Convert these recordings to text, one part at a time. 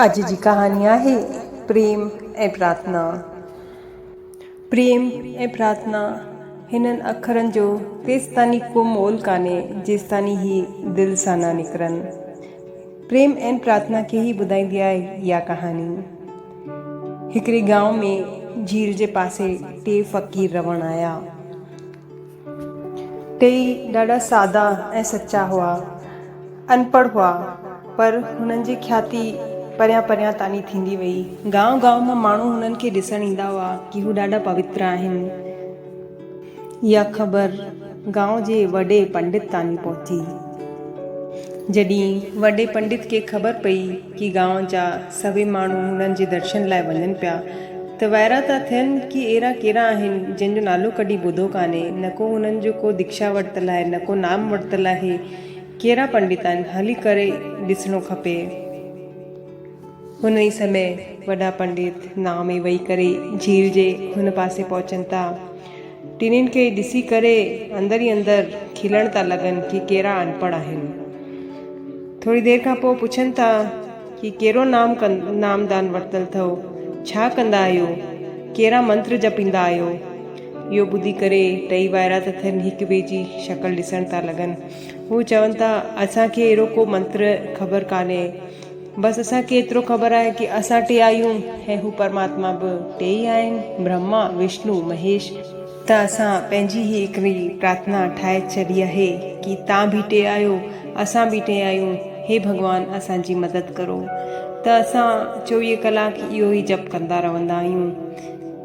اڄ جي ڪهاڻي آهي پريم ۽ پرارٿنا. پريم ۽ پرارٿنا هنن اکرن جو تيستاني ڪو مول ڪانهي جيستاني هي دل سان نه نڪرن. پريم ۽ پرارٿنا کي ئي ٻڌائيندي آهي اها ڪهاڻي. هڪڙي گائون ۾ جھيل جي پاسي ٽي فقير رهڻ آيا. ٽيئي ڏاڍا سادا ۽ سچا هئا. انپڙهه هئا، پر هنن جي کياتي پريان پريان تاني ٿيندي وئي. گانء گانء مان ماڻهو هنن کي ڏسڻ ايندا هئا ڪي هو ڏاڍا پوتر آهن. اها خبر گانء جي وڏي پنڊت تاني پهتي. جڏهن وڏي پنڊت کي خبر پئي ڪي گانء جا سڀئي ماڻهو هنن جي درشن لاء وڃن پيا ته وائرا ٿا ٿين ڪي اهڙا ڪهڙا آهن جن جو نالو ڪڏهن ٻڌو ڪانهي، نه ڪو هنن جو ڪو ديڪشا ورتل آهي نه ڪو نام ورتل آهي، ڪهڙا پنڊت آهن، هلي ڪري ڏسڻو کپي. هن ئي سمي وڏا پنڊت نام ۾ وهي ڪري جھيل جي هن پاسي پهچن ٿا ٽنهين کي ڏسي ڪري اندر ئي اندر کلڻ ٿا لڳن ڪي ڪيرا انپڙهه آهن. ٿوري دير کان پوء پڇن ٿا ڪي ڪيرو نام نام دان ورتل ٿئو، ڇا ڪندا آهيو، ڪيرا منتر جپيندا آهيو. اهو ٻڌي ڪري ٽئي ڀائرا ته ٿين هڪ ٻئي جي شڪل ڏسڻ ٿا لڳن. هو چون ٿا اسان کي اهڙو ڪو منتر خبر ڪانهي. بس اسان کي ايترو خبر آهي ڪي اسان ٽي آهيون ۽ هو پرماتما به ٽي ئي آهن، برهما، وشنو، مهيش. ته اسان پنهنجي هي هڪڙي پرارٿنا ٺاهي ڇڏي آهي ڪي تان به ٽي آهيو، اسان به ٽي آهيون، هي ڀڳوان اسان جي مدد ڪرو. ته اسان چوويهه ڪلاڪ اهو ئي جپ ڪندا رهندا آهيون.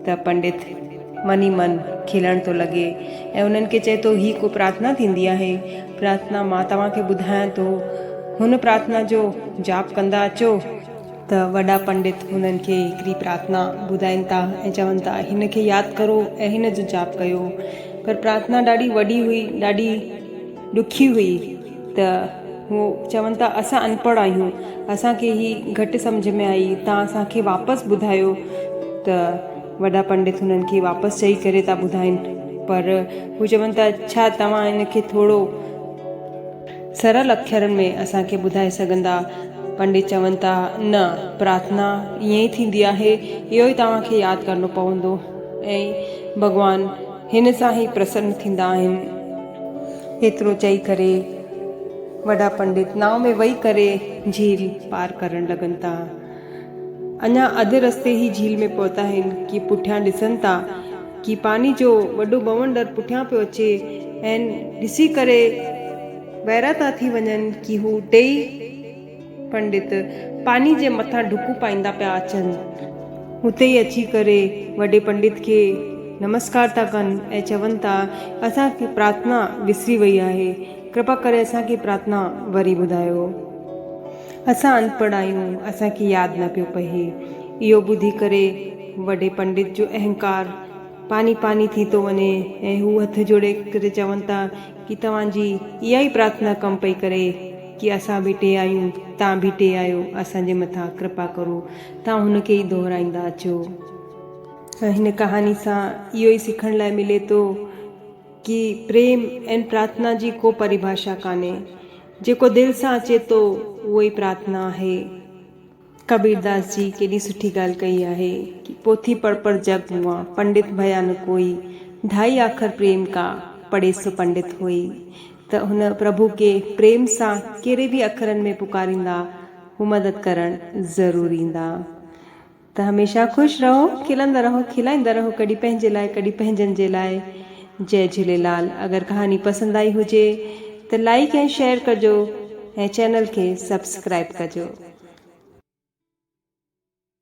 ته پنڊت من ئي من کلڻ ٿو لڳي ۽ انهن کي چئي ٿو هي ڪو پرارٿنا ٿيندي آهي؟ پرارٿنا مان توهان کي ٻڌايان ٿو. هن پرارٿنا جو جاپ ڪندا اچو. ته وڏا پنڊت هنن کي هڪڙي پرارٿنا ٻڌائين ٿا ۽ چون ٿا هن کي ياد ڪرو ۽ هن جو جاپ ڪيو. پر پرارٿنا ڏاڍي وڏي هئي، ڏاڍي ڏکي هئي ته هو چون ٿا اسان انپڙهه آهيون، اسان کي هي گهٽ سمجهه ۾ آئي، توهان اسان کي واپس ٻڌايو ته. وڏا پنڊت هنن کي واپس چئي ڪري ٿا ٻڌائين پر هو چون ٿا ڇا توهان ان کي ٿورو سرل اکرن ۾ اسان کي ٻڌائي سگهندا؟ پنڊت چون ٿا نه پرارٿنا ائين ئي ٿيندي آهي اهو ئي توهان کي ياد ڪرڻو پوندو ۽ ڀڳوان هن سان ئي پرسن ٿيندا آهن. ايترو چئي ڪري وڏا پنڊت ناء ۾ ويهي ڪري جهيل پار ڪرڻ لڳن ٿا. اڃا اڌ رستي ئي جھيل ۾ پهتا آهن ڪي پٺيان ڏسن ٿا ڪي پاڻي جو وڏو بونڊر پٺيان پيو اچي ۽ ڏسي ڪري ويرا ٿا ٿي وڃن ڪي هو ٽيئي پنڊت پاڻي جي مٿان ڊڪون پائيندا پيا اچن هتي ئي اچي ڪري وڏي پنڊت کي نمسڪار ٿا ڪن ۽ چون ٿا اسان کي پرارٿنا وسري وئي آهي ڪرپا ڪري اسان کي پرارٿنا وري ٻڌايو. اسان اڻپڙهه آهيون، اسان کي ياد نه پيو پهي. اهو ٻڌي ڪري وڏي پنڊت جو اهنڪار پاني پاني ٿي ٿو وڃي ۽ هو هٿ جوڙي ڪري چون ٿا ڪي توهان جي اها ئي پرارٿنا ڪم پئي ڪري ڪي اسان به ٽي آهيون، تان به ٽي آهيو، اسان جي مٿان ڪرپا ڪرو. تان هن کي ئي دهرائيندا اچو. هن ڪهاڻي سان اهو ئي سکڻ لاء ملي ٿو ڪي پريم ۽ پرارٿنا جي ڪو پريڀاشا ڪانهي. جيڪو دل سان اچي ٿو اهو ئي پرارٿنا آهي. ڪبيرداس جي ڪيڏي سٺي ڳالهه ڪئي آهي ڪي پوٿي پڙ پڙ جڳ موئا، پنڊت ڀيا نه ڪوئي، ڍائي آکر پريم ڪا، پڙهي سو پنڊت هوئي. ته هن پرڀو کي پريم سان ڪهڙي به اکرن ۾ پڪاريندا، هو مدد ڪرڻ ضرور ايندا. ته هميشه خوش رهو کلندا رهو کلائيندا رهو ڪڏهن پنهنجي لاء ڪڏهن پنهنجن جي لاء جئي جهوليلال اگر ڪهاڻي پسند آئي هجي ته لائيڪ ۽ شيئر ڪجو ۽ چينل کي سبسڪرائيب ڪجو.